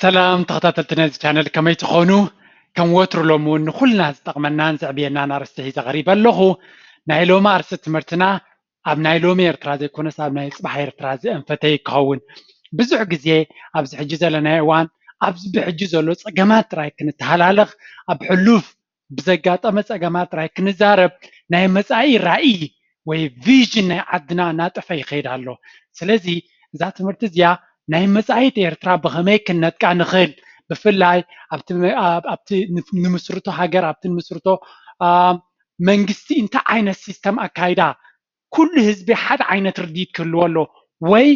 ሰላም ተኸታተልቲ ናይዚ ቻነል ከመይ ትኾኑ? ከም ወትሩ ሎሚ እውን ንኹልና ዝጠቕመናን ዘዕብየናን ኣርእስቲ ሒዘ ቀሪበ ኣለኹ። ናይ ሎሚ ኣርእስቲ ትምህርትና ኣብ ናይ ሎሚ ኤርትራ ዘይኮነስ ኣብ ናይ ፅባሕ ኤርትራ ዘእንፈተ እዩ ክኸውን። ብዙሕ ግዜ ኣብዚ ሕጂ ዘለናዮ እዋን ኣብዚ ብሕጂ ዘሎ ፀገማት ጥራይ ክንተሃላለኽ ኣብ ሕሉፍ ብዘጋጠመ ፀገማት ጥራይ ክንዛረብ ናይ መፃኢ ራኢ ወይ ቪዥን ናይ ዓድና እናጠፈ ይኸይድ ኣሎ ስለዚ እዛ ትምህርቲ እዚኣ ናይ መፃኢት ኤርትራ ብኸመይ ክንነጥቃ ንኽእል ብፍላይ ኣብቲ ንምስርቶ ሃገር ኣብቲ ንምስርቶ መንግስቲ እንታይ ዓይነት ሲስተም ኣካይዳ ኩሉ ህዝቢ ሓደ ዓይነት ርድኢት ክህልዎ ኣለዎ ወይ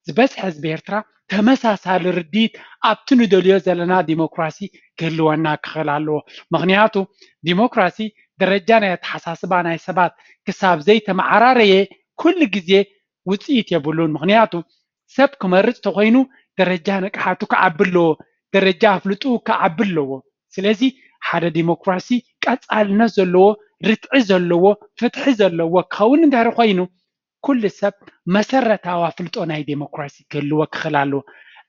ዝበዝሐ ህዝቢ ኤርትራ ተመሳሳሊ ርድኢት ኣብቲ ንደልዮ ዘለና ዲሞክራሲ ክህልወና ክኽእል ኣለዎ። ምኽንያቱ ዲሞክራሲ ደረጃ ናይ ኣተሓሳስባ ናይ ሰባት ክሳብ ዘይተመዓራረየ ኩሉ ግዜ ውጽኢት የብሉን ምኽንያቱ ሰብ ክመርጽ ተኾይኑ ደረጃ ንቅሓቱ ክዓቢ ኣለዎ፣ ደረጃ ኣፍልጥኡ ክዓቢ ኣለዎ። ስለዚ ሓደ ዲሞክራሲ ቀጻልነት ዘለዎ፣ ርትዒ ዘለዎ፣ ፍትሒ ዘለዎ ክኸውን እንድሕሪ ኮይኑ ኩሉ ሰብ መሰረታዊ ኣፍልጦ ናይ ዲሞክራሲ ክህልዎ ክኽል ኣለዎ።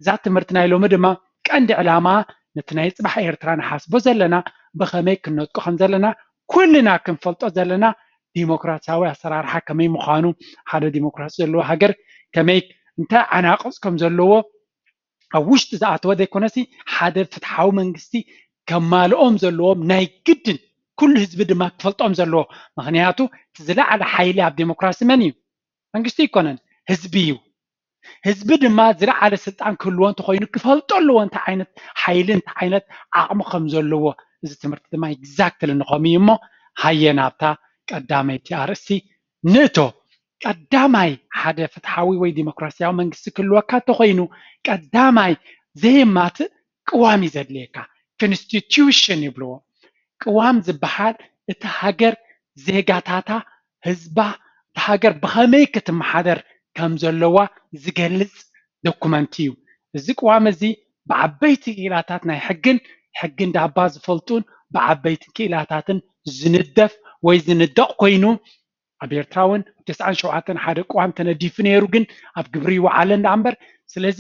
እዛ ትምህርቲ ናይ ሎሚ ድማ ቀንዲ ዕላማኣ ነቲ ናይ ጽባሕ ኤርትራ ንሓስቦ ዘለና ብኸመይ ክንነጥቆ ከምዘለና ኩልና ክንፈልጦ ዘለና ዲሞክራሲያዊ ኣሰራርሓ ከመይ ምዃኑ፣ ሓደ ዲሞክራሲ ዘለዎ ሃገር ከመይ እንታይ ዓናቕጽ ከም ዘለዎ ኣብ ውሽጢ ዝኣተወ ዘይኮነሲ ሓደ ፍትሓዊ መንግስቲ ከማልኦም ዘለዎም ናይ ግድን ኩሉ ህዝቢ ድማ ክፈልጦም ዘለዎ ምክንያቱ እቲ ዝለዓለ ሓይሊ ኣብ ዴሞክራሲ መን እዩ? መንግስቲ ኣይኮነን ህዝቢ እዩ። ህዝቢ ድማ ዝለዓለ ስልጣን ክህልዎ እንተኾይኑ ክፈልጦ ኣለዎ እንታይ ዓይነት ሓይሊ እንታይ ዓይነት ዓቕሚ ከም ዘለዎ እዚ ትምህርቲ ድማ ኤግዛክትሊ ንኸምኡ እዩ እሞ ሃየ ናብታ ቀዳመይቲ ኣርእስቲ ንእቶ ቀዳማይ ሓደ ፍትሓዊ ወይ ዲሞክራስያዊ መንግስቲ ክህልወካ እንተኾይኑ ቀዳማይ ዘየማትእ ቅዋም እዩ ዘድልየካ ክንስቲትዩሽን ይብልዎ ቅዋም ዝባሃል እቲ ሃገር ዜጋታታ ህዝባ እታ ሃገር ብኸመይ ክትማሓደር ከም ዘለዋ ዝገልፅ ዶኩመንት እዩ እዚ ቅዋም እዚ ብዓበይቲ ክኢላታት ናይ ሕግን ሕጊ እንዳባ ዝፈልጡን ብዓበይቲ ክኢላታትን ዝንደፍ ወይ ዝንደቕ ኮይኑ ኣብ ኤርትራውን ኣብ ተስዓን ሸውዓተን ሓደ ቅዋም ተነዲፉ ነይሩ ግን ኣብ ግብሪ ይወዓለን ደኣ እምበር ስለዚ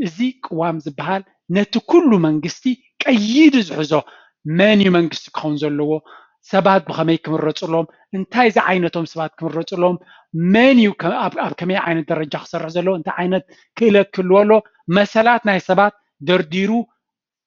እዚ ቅዋም ዝበሃል ነቲ ኩሉ መንግስቲ ቀይዲ ዝሕዞ መን እዩ መንግስቲ ክኸውን ዘለዎ ሰባት ብኸመይ ክምረጽሎም እንታይ ዝዓይነቶም ሰባት ክምረጽሎም መን እዩ ኣብ ከመይ ዓይነት ደረጃ ክሰርሕ ዘለዎ እንታይ ዓይነት ክእለት ክህልዎ ኣለዎ መሰላት ናይ ሰባት ደርዲሩ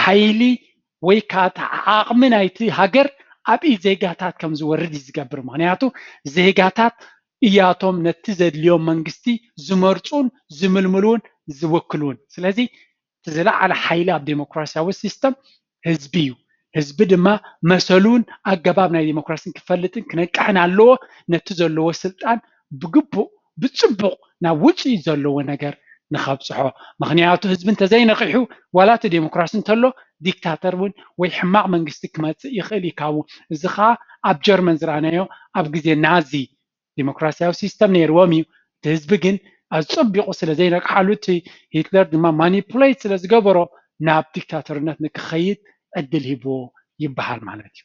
ሓይሊ ወይ ከኣ እቲ ዓቕሚ ናይቲ ሃገር ኣብ ኢድ ዜጋታት ከም ዝወርድ እዩ ዝገብር። ምኽንያቱ ዜጋታት እያቶም ነቲ ዘድልዮም መንግስቲ ዝመርጹን ዝምልምሉን ዝውክሉን። ስለዚ እቲ ዝለዓለ ሓይሊ ኣብ ደሞክራስያዊ ሲስተም ህዝቢ እዩ። ህዝቢ ድማ መሰሉን ኣገባብ ናይ ደሞክራስን ክፈልጥን ክነቅሕን ኣለዎ። ነቲ ዘለዎ ስልጣን ብግቡእ ብፅቡቅ ናብ ውፅኢት ዘለዎ ነገር ንከብፅሖ ምክንያቱ ህዝቢ እንተዘይነቂሑ ዋላ እቲ ዴሞክራሲ እንተሎ ዲክታተር እውን ወይ ሕማቅ መንግስቲ ክመፅእ ይክእል እዩ ካብኡ እዚ ከዓ ኣብ ጀርመን ዝረኣናዮ ኣብ ግዜ ናዚ ዴሞክራሲያዊ ሲስተም ነይርዎም እዩ እቲ ህዝቢ ግን ኣፀቢቁ ስለዘይነቅሓሉ እቲ ሂትለር ድማ ማኒፑሌት ስለዝገበሮ ናብ ዲክታተርነት ንክከይድ ዕድል ሂብዎ ይበሃል ማለት እዩ።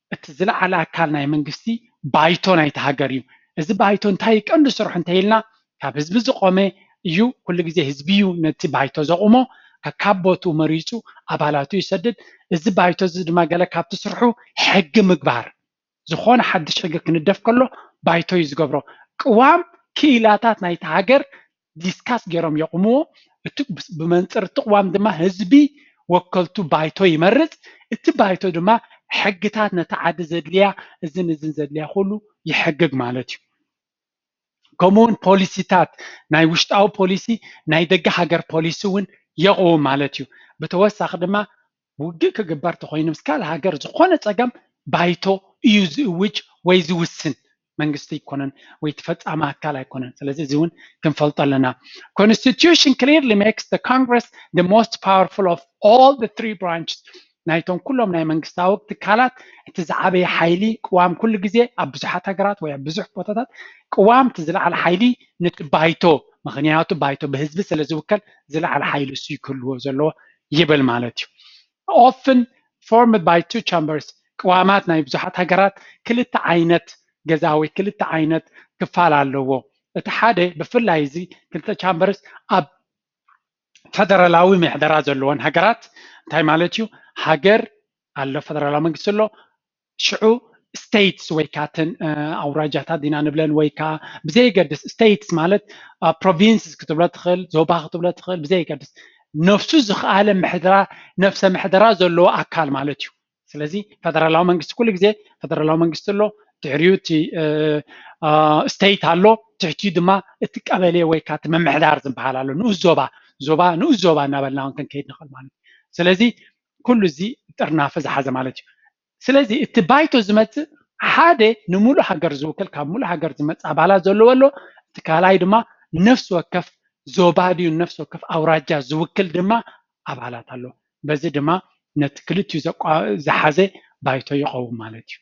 እቲ ዝለዓለ ኣካል ናይ መንግስቲ ባይቶ ናይቲ ሃገር እዩ። እዚ ባይቶ እንታይ እዩ ቀንዲ ስርሑ እንተይልና ካብ ህዝቢ ዝቖመ እዩ። ኩሉ ግዜ ህዝቢ እዩ ነቲ ባይቶ ዘቑሞ ከካብ ቦትኡ መሪፁ ኣባላቱ ይሰድድ። እዚ ባይቶ እዚ ድማ ገለ ካብቲ ስርሑ ሕጊ ምግባር ዝኾነ ሓዱሽ ሕጊ ክንደፍ ከሎ ባይቶ እዩ ዝገብሮ። ቅዋም ክኢላታት ናይቲ ሃገር ዲስካስ ገይሮም የቑምዎ። እቲ ብመንፅር እቲ ቕዋም ድማ ህዝቢ ወከልቱ ባይቶ ይመርፅ። እቲ ባይቶ ድማ ሕግታት ነታ ዓዲ ዘድልያ እዝን እዝን ዘድልያ ኹሉ ይሕግግ ማለት እዩ። ከምኡ እውን ፖሊሲታት ናይ ውሽጣዊ ፖሊሲ ናይ ደገ ሃገር ፖሊሲ እውን የቕውም ማለት እዩ። ብተወሳኺ ድማ ውግእ ክግበር ተኾይኑ ምስ ካልእ ሃገር ዝኾነ ፀገም ባይቶ እዩ ዝእውጅ ወይ ዝውስን መንግስቲ ኣይኮነን ወይ እቲ ፈፃሚ ኣካል ኣይኮነን ስለዚ እዚ እውን ክንፈልጦ ኣለና ኮንስቲቱሽን ክሊርሊ ሜክስ the congress the most powerful of all the three branches ናይቶም ኩሎም ናይ መንግስታዊ ትካላት እቲ ዝዓበየ ሓይሊ ቅዋም ኩሉ ግዜ ኣብ ብዙሓት ሃገራት ወይ ኣብ ብዙሕ ቦታታት ቅዋም እቲ ዝለዓለ ሓይሊ ነቲ ባይቶ ምክንያቱ ባይቶ ብህዝቢ ስለ ዝውከል ዝለዓለ ሓይሊ እሱ ክህልዎ ዘለዎ ይብል ማለት እዩ። Often formed by two chambers ቅዋማት ናይ ብዙሓት ሃገራት ክልተ ዓይነት ገዛ ወይ ክልተ ዓይነት ክፋል ኣለዎ። እቲ ሓደ ብፍላይ እዚ ክልተ ቻምበርስ ኣብ ፈደራላዊ ምሕደራ ዘለወን ሃገራት እንታይ ማለት እዩ ሃገር ኣሎ ፈደራላዊ መንግስቲ ኣሎ ሽዑ ስቴትስ ወይ ከዓ እተን ኣውራጃታት ኢና ንብለን ወይ ከዓ ብዘየገድስ ስቴትስ ማለት ፕሮቪንስስ ክትብሎ ትኽእል ዞባ ክትብሎ ትኽእል ብዘየገድስ ነፍሱ ዝኸኣለ ምሕደራ ነፍሰ ምሕደራ ዘለዎ ኣካል ማለት እዩ ስለዚ ፈደራላዊ መንግስቲ ኩሉ ግዜ ፈደራላዊ መንግስቲ ኣሎ ድሕሪኡ እቲ ስቴት ኣሎ ትሕቲኡ ድማ እቲ ቀበሌ ወይ ከዓ እቲ ምምሕዳር ዝበሃል ኣሎ ንኡስ ዞባ ዞባ ንኡስ ዞባ እናበልና እውን ክንከይድ ንኽእል ማለት እዩ ስለዚ ኩሉ እዚ ጥርናፈ ዝሓዘ ማለት እዩ። ስለዚ እቲ ባይቶ ዝመጽእ ሓደ ንሙሉእ ሃገር ዝውክል ካብ ሙሉእ ሃገር ዝመጽእ ኣባላት ዘለዎ ኣሎ፣ እቲ ካልኣይ ድማ ንነፍሲ ወከፍ ዞባ ድዩ ንነፍሲ ወከፍ ኣውራጃ ዝውክል ድማ ኣባላት ኣሎ። በዚ ድማ ነቲ ክልቲኡ ዘቋ- ዝሓዘ ባይቶ ይቐውም ማለት እዩ።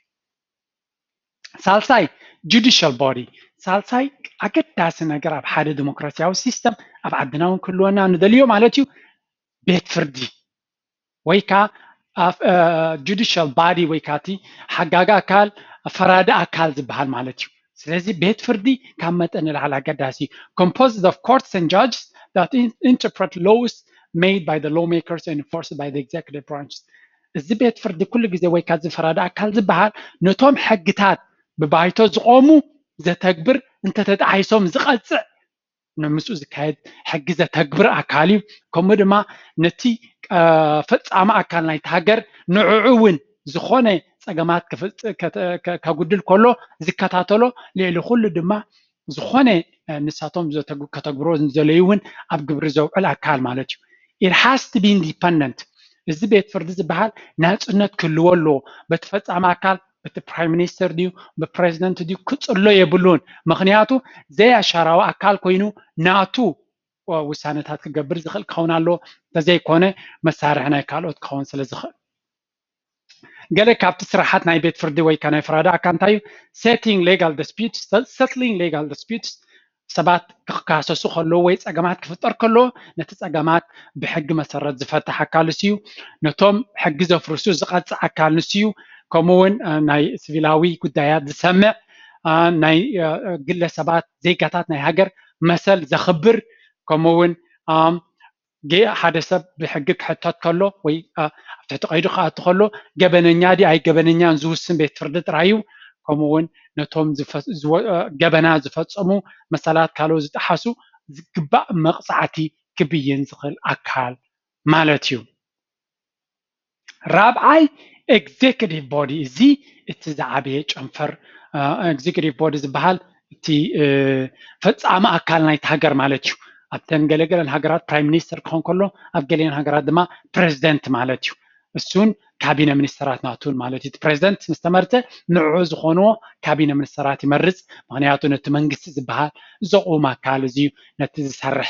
ሳልሳይ ጁዲሻል ቦዲ ሳልሳይ ኣገዳሲ ነገር ኣብ ሓደ ዲሞክራሲያዊ ሲስተም ኣብ ዓድና እውን ክህልወና ንደልዮ ማለት እዩ ቤት ፍርዲ ወይ ከዓ ጁዲሻል ባዲ ወይ ከዓ እቲ ሓጋጊ ኣካል ፈራዲ ኣካል ዝበሃል ማለት እዩ ስለዚ ቤት ፍርዲ ካብ መጠን ንላዕሊ ኣገዳሲ እዩ ኮምፖዝድ ኦፍ ኮርትስ ን ጃጅስ ዳት ኢንተርፕረት ሎውስ ሜድ ባይ ሎው ሜከርስ ን ኢንፎርስ ባይ ኤግዜኪቲቭ ብራንች እዚ ቤት ፍርዲ ኩሉ ግዜ ወይ ከዓ እዚ ፈራዲ ኣካል ዝበሃል ነቶም ሕግታት ብባይቶ ዝቆሙ ዘተግብር እንተተጣሒሶም ዝቐፅዕ ምስኡ ዝካየድ ሕጊ ዘተግብር ኣካል እዩ ከምኡ ድማ ነቲ ፈፃሚ ኣካል ናይቲ ሃገር ንዕዑ እውን ዝኾነ ፀገማት ከጉድል ከሎ ዝከታተሎ ልዕሊ ኩሉ ድማ ዝኾነ ንሳቶም ከተግብሮ ዘለዩ እውን ኣብ ግብሪ ዘውዕል ኣካል ማለት እዩ ኢት ሃስ ቱ ቢ ኢንዲፐንደንት እዚ ቤት ፍርዲ ዝበሃል ናፅነት ክህልዎ ኣለዎ በቲ ፈፃሚ ኣካል ብቲ ፕራይም ሚኒስተር ድዩ ብፕረዚደንት ድዩ ክጽሎ የብሉን ምኽንያቱ ዘይኣሻራዊ ኣካል ኮይኑ ናቱ ውሳነታት ክገብር ዝኽእል ክኸውን ኣለዎ እንተዘይኮነ መሳርሒ ናይ ካልኦት ክኸውን ስለ ዝኽእል ገለ ካብቲ ስራሓት ናይ ቤት ፍርዲ ወይ ከዓ ናይ ፍራዳ ኣካ እንታይ እዩ ሴቲንግ ሌጋል ዲስፒትስ ሰትሊንግ ሌጋል ዲስፒትስ ሰባት ክካሰሱ ከለዉ ወይ ፀገማት ክፍጠር ከሎ ነቲ ፀገማት ብሕጊ መሰረት ዝፈትሕ ኣካል ንሱ እዩ። ነቶም ሕጊ ዘፍርሱ ዝቐፅዕ ኣካል ንሱ እዩ። ከምኡ እውን ናይ ስቪላዊ ጉዳያት ዝሰምዕ ናይ ግለሰባት ዜጋታት ናይ ሃገር መሰል ዘኽብር ከምኡ እውን ጌእ ሓደ ሰብ ብሕጊ ክሕተት ከሎ ወይ ኣብ ትሕቲ ቀይዲ ክኣቱ ከሎ ገበነኛ ድዩ ኣይገበነኛን ዝውስን ቤት ፍርዲ ጥራይ እዩ። ከምኡ እውን ነቶም ገበና ዝፈፀሙ መሰላት ካልኦት ዝጠሓሱ ዝግባእ መቕፃዕቲ ክብይን ዝኽእል ኣካል ማለት እዩ። ራብዓይ ኤግዜክቲቭ ቦዲ እዚ እቲ ዝዓበየ ጨንፈር ኤግዜክቲቭ ቦዲ ዝበሃል እቲ ፈፃሚ ኣካል ናይቲ ሃገር ማለት እዩ ኣብተን ገለገለን ሃገራት ፕራይም ሚኒስተር ክኾን ከሎ ኣብ ገሊአን ሃገራት ድማ ፕሬዚደንት ማለት እዩ እሱን ካቢነ ሚኒስተራት ናቱን ማለት እዩ ፕሬዚደንት ምስ ተመርፀ ንዕዑ ዝኾንዎ ካቢነ ሚኒስተራት ይመርፅ ምክንያቱ ነቲ መንግስቲ ዝበሃል ዘቑም ኣካል እዚ ነቲ ዝሰርሕ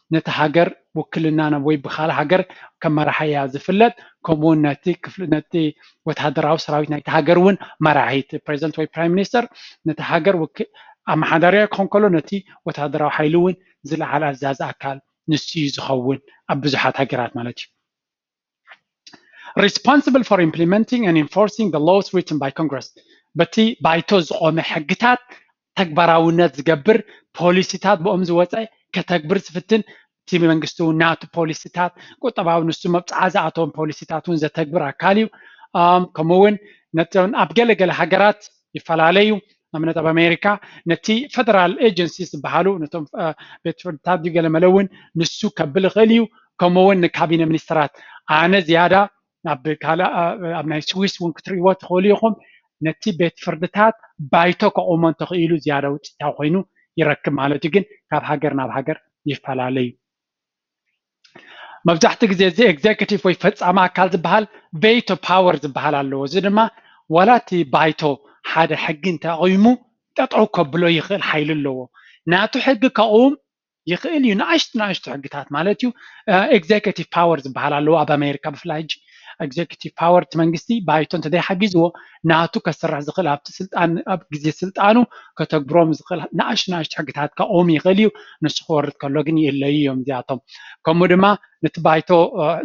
ነታ ሃገር ውክልና ናብ ወይ ብካልእ ሃገር ከም መራሓያ ዝፍለጥ ከምኡ ውን ነቲ ወተሃደራዊ ሰራዊት ናይቲ ሃገር ውን መራሒ እቲ ፕረዚደንት ወይ ፕራይም ሚኒስተር ነቲ ሃገር ኣመሓዳርያ ክኾን ከሎ ነቲ ወተሃደራዊ ሓይሊ ውን ዝለዓል ኣዛዚ ኣካል ንሱ እዩ ዝኸውን ኣብ ብዙሓት ሃገራት ማለት እዩ። ሪስፖንስብል ፎር ኢምፕሊመንቲንግ ኤንድ ኢንፎርሲንግ ዘ ሎውስ ሪትን ባይ ኮንግረስ በቲ ባይቶ ዝቖመ ሕግታት ተግባራውነት ዝገብር ፖሊሲታት ብኦም ዝወፀ ከተግብር ዝፍትን እቲ መንግስቲ እውን ናቱ ፖሊሲታት ቁጠባዊ ንሱ መብፅዓ ዝኣተዎም ፖሊሲታት እውን ዘተግብር ኣካል እዩ ከምኡ እውን ነቶም ኣብ ገለገለ ሃገራት ይፈላለዩ ንኣብነት ኣብ ኣሜሪካ ነቲ ፈደራል ኤጀንሲ ዝበሃሉ ነቶም ቤት ፍርድታት ድዩ ገለ መለ እውን ንሱ ከብል ይኽእል እዩ ከምኡ እውን ንካቢነ ሚኒስትራት ኣነ ዝያዳ ናብ ካልእ ኣብ ናይ ስዊስ እውን ክትርእይዎ ትኽእሉ ኢኹም ነቲ ቤት ፍርድታት ባይቶ ከቑሞ እንተኽኢሉ ዝያዳ ውፅኢታዊ ኮይኑ ይረክብ ማለት እዩ ግን ካብ ሃገር ናብ ሃገር ይፈላለ እዩ መብዛሕትኡ ግዜ እዚ ኤግዜኪቲቭ ወይ ፈፃሚ ኣካል ዝበሃል ቬቶ ፓወር ዝበሃል ኣለዎ። እዚ ድማ ዋላ እቲ ባይቶ ሓደ ሕጊ እንተኣቒሙ ጠጠው ከብሎ ይኽእል ሓይሊ ኣለዎ። ናቱ ሕጊ ከቕውም ይኽእል እዩ ንኣሽቱ ንኣሽቱ ሕግታት ማለት እዩ። ኤግዜኪቲቭ ፓወር ዝበሃል ኣለዎ ኣብ ኣሜሪካ ብፍላይ ሕጂ። ኤግዘኪቲቭ ፓወር እቲ መንግስቲ ባይቶ እንተዘይሓጊዝዎ ናቱ ከስርሕ ዝኽእል ኣብቲ ስልጣን ኣብ ግዜ ስልጣኑ ከተግብሮም ዝኽእል ንኣሽቱ ንኣሽቱ ሕግታት ከቕውም ይኽእል እዩ ንሱ ክወርድ ከሎ ግን ይእለዩ እዮም እዚኣቶም ከምኡ ድማ ነቲ ባይቶ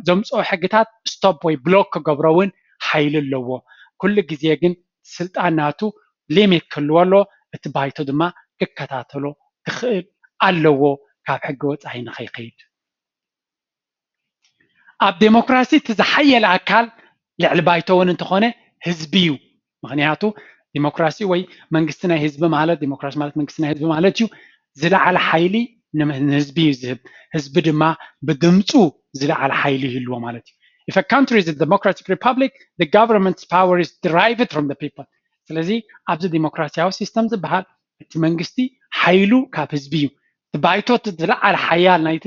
ዘምፅኦ ሕግታት ስቶፕ ወይ ብሎክ ክገብሮ እውን ሓይሊ ኣለዎ ኩሉ ግዜ ግን ስልጣን ናቱ ሊሚት ክህልዎ ኣለዎ እቲ ባይቶ ድማ ክከታተሎ ክኽእል ኣለዎ ካብ ሕጊ ወፃኢ ንከይከይድ። ኣብ ዴሞክራሲ እቲ ዝሓየለ ኣካል ልዕሊ ባይቶ እውን እንተኾነ ህዝቢ እዩ። ምኽንያቱ ዴሞክራሲ ወይ መንግስቲ ናይ ህዝቢ ማለት ዴሞክራሲ ማለት መንግስቲ ናይ ህዝቢ ማለት እዩ። ዝለዓለ ሓይሊ ንህዝቢ እዩ ዝህብ። ህዝቢ ድማ ብድምፁ ዝለዓለ ሓይሊ ይህልዎ ማለት እዩ። If a country is a democratic republic, the government's power is derived from the people ስለዚ ኣብዚ ዴሞክራሲያዊ ሲስተም ዝበሃል እቲ መንግስቲ ሓይሉ ካብ ህዝቢ እዩ። እቲ ባይቶ እቲ ዝለዓለ ሓያል ናይቲ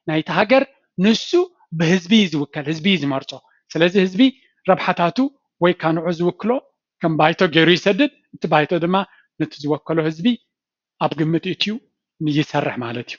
ናይቲ ሃገር ንሱ ብህዝቢ እዩ ዝውከል ህዝቢ እዩ ዝመርጾ ስለዚ ህዝቢ ረብሓታቱ ወይ ካኣ ንዑኡ ዝውክሎ ከም ባይቶ ጌሩ ይሰድድ እቲ ባይቶ ድማ ነቲ ዝወከሎ ህዝቢ ኣብ ግምት እእትዩ ይሰርሕ ማለት እዩ።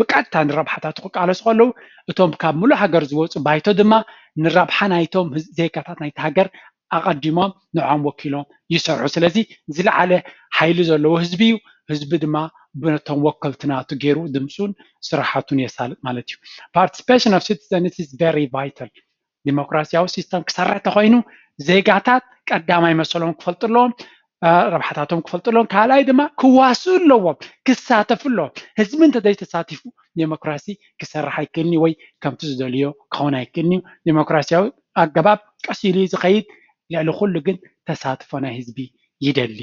ብቀጥታ ንረብሓታቱ ክቃለሱ ከለዉ፣ እቶም ካብ ምሉእ ሃገር ዝወጹ ባይቶ ድማ ንረብሓ ናይቶም ዜጋታት ናይታ ሃገር ኣቐዲሞም ንዕኦም ወኪሎም ይሰርሑ። ስለዚ ዝለዓለ ሓይሊ ዘለዎ ህዝቢ እዩ። ህዝቢ ድማ ነቶም ወከልቲ ናቱ ገይሩ ድምጹን ስራሓቱን የሳልጥ ማለት እዩ። Participation of citizens is very vital ዲሞክራሲያዊ ሲስተም ክሰርሕ ተኾይኑ ዜጋታት ቀዳማይ መሰሎም ክፈልጡ ኣለዎም ረብሓታቶም ክፈልጡ ኣለዎም ካልኣይ ድማ ክዋስኡ ኣለዎም ክሳተፉ ኣለዎም ህዝቢ እንተዘይተሳቲፉ ዴሞክራሲ ክሰርሕ ኣይክእልን እዩ ወይ ከምቲ ዝደልዮ ክኸውን ኣይክእልን እዩ ዴሞክራሲያዊ ኣገባብ ቀስ ኢሉ ዝኸይድ ልዕሊ ኩሉ ግን ተሳትፎ ናይ ህዝቢ ይደሊ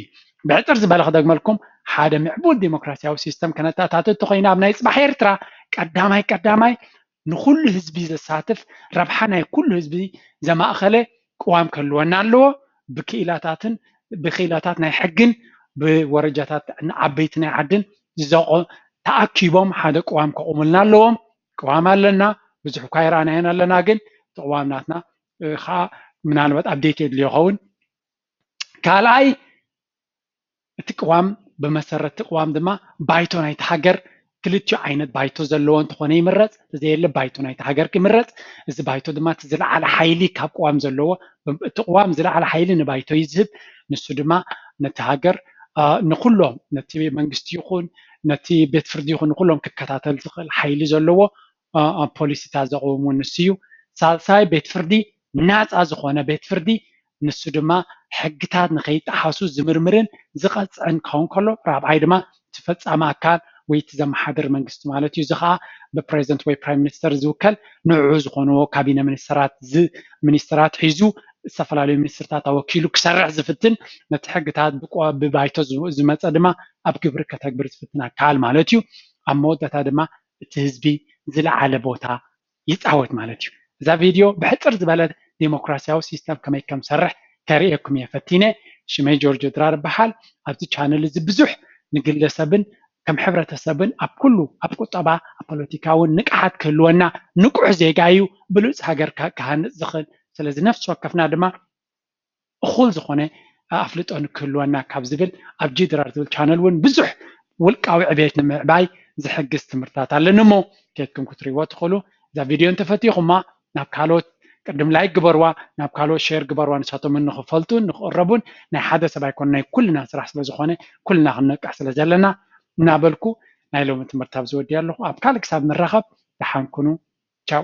ብሕፅር ዝበለ ክደግመልኩም ሓደ ምዕቡል ዴሞክራሲያዊ ሲስተም ከነተኣታትት ተኮይና ኣብ ናይ ፅባሕ ኤርትራ ቀዳማይ ቀዳማይ ንኹሉ ህዝቢ ዘሳትፍ ረብሓ ናይ ኩሉ ህዝቢ ዘማእኸለ ቅዋም ክህልወና ኣለዎ። ብክኢላታትን ብክኢላታት ናይ ሕግን ብወረጃታት ዓበይቲ ናይ ዓድን ተኣኪቦም ሓደ ቅዋም ከቑሙልና ኣለዎም። ቅዋም ኣለና ብዙሕ እኳ ኣይረኣናዮን ኣለና ግን እቲ ቅዋም ናትና ከዓ ምናልባት ኣብዴት የድልዮ ይኸውን። ካልኣይ እቲ ቅዋም ብመሰረት እቲ ቅዋም ድማ ባይቶ ናይቲ ሃገር ክልቲኡ ዓይነት ባይቶ ዘለዎ እንተኾነ ይምረፅ እንተዘየለ ባይቶ ናይቲ ሃገር ይምረፅ እዚ ባይቶ ድማ እቲ ዝለዓለ ሓይሊ ካብ ቅዋም ዘለዎ እቲ ቅዋም ዝለዓለ ሓይሊ ንባይቶ እዩ ዝህብ ንሱ ድማ ነቲ ሃገር ንኹሎም ነቲ መንግስቲ ይኹን ነቲ ቤት ፍርዲ ይኹን ንኹሎም ክከታተል ዝኽእል ሓይሊ ዘለዎ ፖሊሲታት ዘቕውም ንሱ እዩ ሳልሳይ ቤት ፍርዲ ናፃ ዝኾነ ቤት ፍርዲ ንሱ ድማ ሕግታት ንከይጠሓሱ ዝምርምርን ዝቐፅዕን ክኸውን ከሎ ራብዓይ ድማ እቲ ፈፃሚ ኣካል ወይ እቲ ዘመሓድር መንግስቲ ማለት እዩ። እዚ ከዓ ብፕረዚደንት ወይ ፕራይም ሚኒስተር ዝውከል ንዕዑ ዝኾንዎ ካቢነ ሚኒስተራት እዚ ሚኒስተራት ሒዙ ዝተፈላለዩ ሚኒስትርታት ኣወኪሉ ክሰርሕ ዝፍትን ነቲ ሕግታት ብባይቶ ዝመፀ ድማ ኣብ ግብሪ ከተግብር ዝፍትን ኣካል ማለት እዩ። ኣብ መወዳእታ ድማ እቲ ህዝቢ ዝለዓለ ቦታ ይጻወት ማለት እዩ። እዛ ቪድዮ ብሕጽር ዝበለ ዴሞክራሲያዊ ሲስተም ከመይ ከም ዝሰርሕ ከርእየኩም እየ ፈቲነ። ሽመይ ጆርጆ ድራር እበሃል። ኣብዚ ቻነል እዚ ብዙሕ ንግለሰብን ከም ሕብረተሰብን ኣብ ኩሉ ኣብ ቁጠባ ኣብ ፖለቲካ እውን ንቅሓት ክህልወና ንቁሕ ዜጋ እዩ ብሉጽ ሃገር ክሃንጽ ዝኽእል። ስለዚ ነፍሲ ወከፍና ድማ እኹል ዝኾነ ኣፍልጦ ንክህልወና ካብ ዝብል ኣብ ጂድራር ዝብል ቻነል እውን ብዙሕ ውልቃዊ ዕብየት ንምዕባይ ዝሕግዝ ትምህርትታት ኣለኒ እሞ ከይድኩም ክትሪእዎ ትኽእሉ እዛ ቪድዮ እንተፈቲኹማ ናብ ካልኦት ቅድም ላይክ ግበርዋ ናብ ካልኦት ሼር ግበርዋ ንሳቶም እውን ንክፈልጡን ንክቕረቡን ናይ ሓደ ሰብ ኣይኮነ ናይ ኩልና ስራሕ ስለዝኾነ ኩልና ክንነቅሕ ስለዘለና እናበልኩ ናይ ሎሚ ትምህርቲ ኣብዚ ወዲኣ ኣለኹ ኣብ ካልእ ክሳብ ንራኸብ ደሓን ኩኑ ቻው